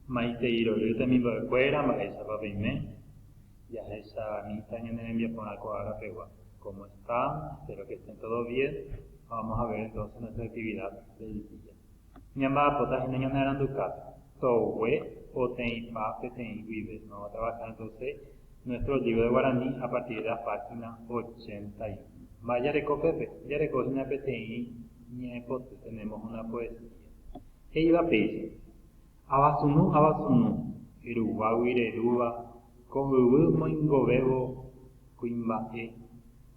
Maitei rory temimbo'ekuéra mba'éichapa peime, jahecha amita ñane rembiaporã ko ára pegua, cómo están, espero que estén todos bien, vamos a ver entonces nuestra actividad del día. Ñamba'apóta hína ñanearanduka togue poteĩpa peteĩ guive, vamos a trabajar entonces nuestro libro de guaraní a partir de la página 81. Mba'e jareko pépe? Jareko hína peteĩ Ñe'ẽpoty, tenemos una poesía. He'íva péicha, Avasunu, avasunu, ruguágui rerúva ko yvy moingovévo kuimba'e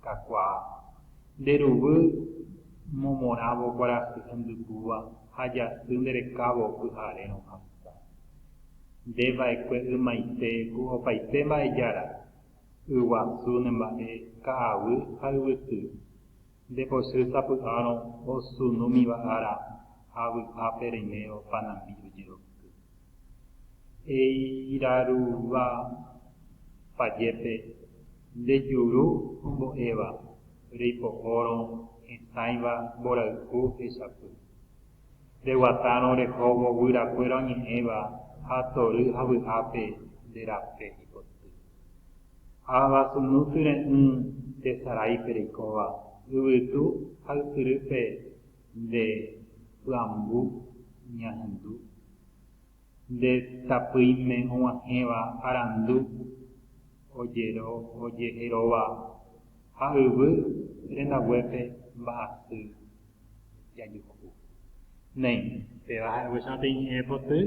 kakuaa, nde ruguy momorãvo kuarahy hendypúva ha jasy nde rekávo pyharérõ hasa. Nde vaekue ymaite ku opaite mba'ejára, yguasu ne mba'e ka'aguy ha yvyty. Nde pochýi sapy'árõ osynúmiva ára ha vy'ápe reime opa nambi ojeroky. Eirarúva pajépe nde juru ombo'éva reipo'órõ hesãiva mborayhu hechapy. Reguatárõ orehóvo guyrakuéra oñe'ẽva ha tory ha vy'ápe nde rape ipoty. Ava sunu tyre'ỹ tesaráipe reikóva, yvytu ha ysyrýpe nde py'ambu ñahendu. Nde tapỹime og̃uahẽva arandu ojero ojeheróva ha yvy rendaguépe mba'asy jajuhu. Néi, péva ha'eguéichama pe ñe'ẽ poty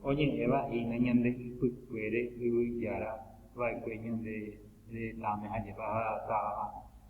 oñe'ẽva hína ñande ypykuére Yvyjára va'ekue ñande retãme ha jepa táva.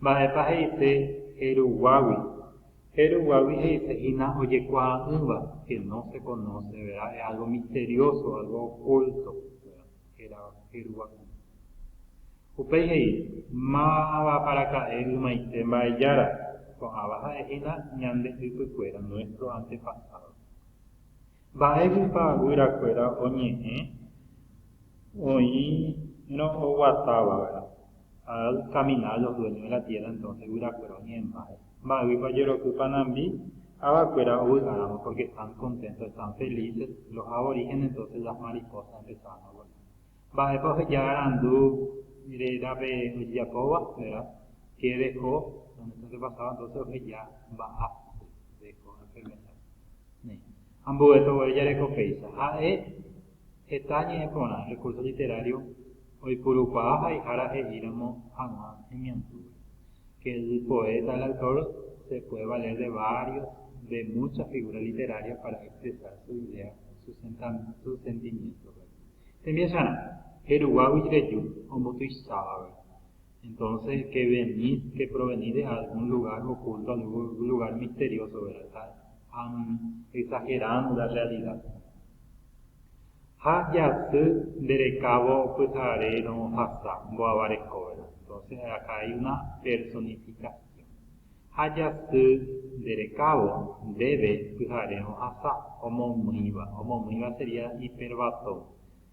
Mba'épa he'ise heru guágui? Heru guágui he'ise hína ojekuaa'ỹva, que no se conoce, verá, es algo misterioso, algo oculto, verá, hérava heru guágui. Upéi he'i, Mávapaaraka'e ymaite Mba'ejára, ko'ãva ha'e hína ñande ypykuéra, nuestro antepasado. Mba'éguipa guyrakuéra oñe'ẽ oĩrõ oguatáva, verá. Adad camina los dueños de la tierra entonces guyrakuéra oñe'ẽmbáre mba'ýipa ojeroky panambi avakuéra ovy'aramo porque están contentos, están felices, los aborígenes entonces las mariposas empezaron a volar mba'épa oheja arandu rérape ojejapóva, verdad, que dejó donde está antepasado entonces oheja mba'apo dejó enfermedad, néi, ambuépe ogueru jareko péicha ha'e Heta ñe'ẽporã recurso literario oipurukuaa haihára he'íramo hag̃ua hemiandúgui, que el poeta, el autor se puede valer de varios, de muchas figuras literarias para expresar su idea, su sentimiento. Tembiasarã, jeruguágui reju, ombotuichávagui. Entonces, que venís, que provenís de algún lugar oculto, algún lugar misterioso, ¿verdad? Están exagerando la realidad. ha jasy nde rekávo pyhare rohasa mbo'ava rekovera, entonces acá hay una personificación, ha jasy nde rekávo ndéve pyhare rohasa, omomýiva, omomýiva sería hiperbatón,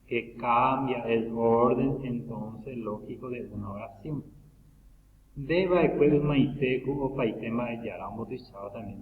que cambia el orden entonces lógico de una oración. Nde va'ekue ymaite ku opaite mba'e Jára ombotuicháva también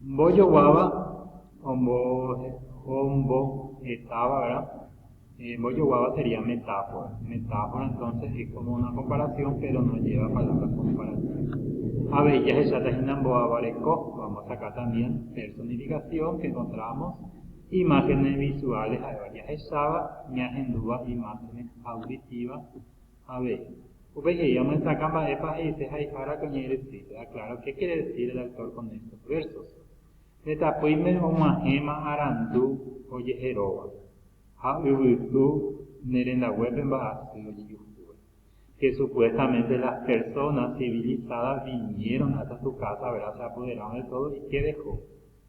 Mbojoguáva ombohetava'erã, mbojoguáva sería metáfora. Metáfora entonces es como una comparación pero no lleva palabras comparativas. Avei jahecháta hína mbo'avareko, vamos a sacar también personificación que encontramos imágenes visuales ha'éva jahecháva, ñahendúva imágenes auditivas, Avei, upe jey omyesakã mba'épa he'ise haihára ko ñe'ẽ rysýpe. Aklaro qué quiere decir el autor con estos versos. Pe tapỹime og̃uahẽma arandu ojeheróva, ha yvytu ne rendaguépe mba'asy ojejuhúva. Que supuestamente las personas civilizadas vinieron hasta su casa, verá, se apoderaron de todo y qué dejó?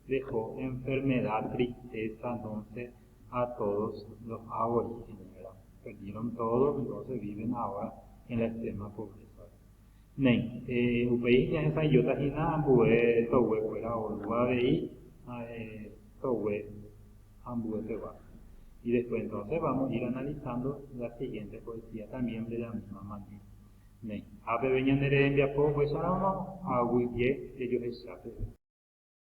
Dejó enfermedad, tristeza, entonces ha todos lo hago y señora perdieron todo y luego se viven ahora en la extrema pobreza néi upéi ñahesa'ỹijóta hína ambue togue kuéra orúva avei togue ambue pegua y después entonces vamos a ir analizando la siguiente poesía también de la misma manera néi ha peve ñane rehembiapo upéicharamo aguyje rejohecha peve.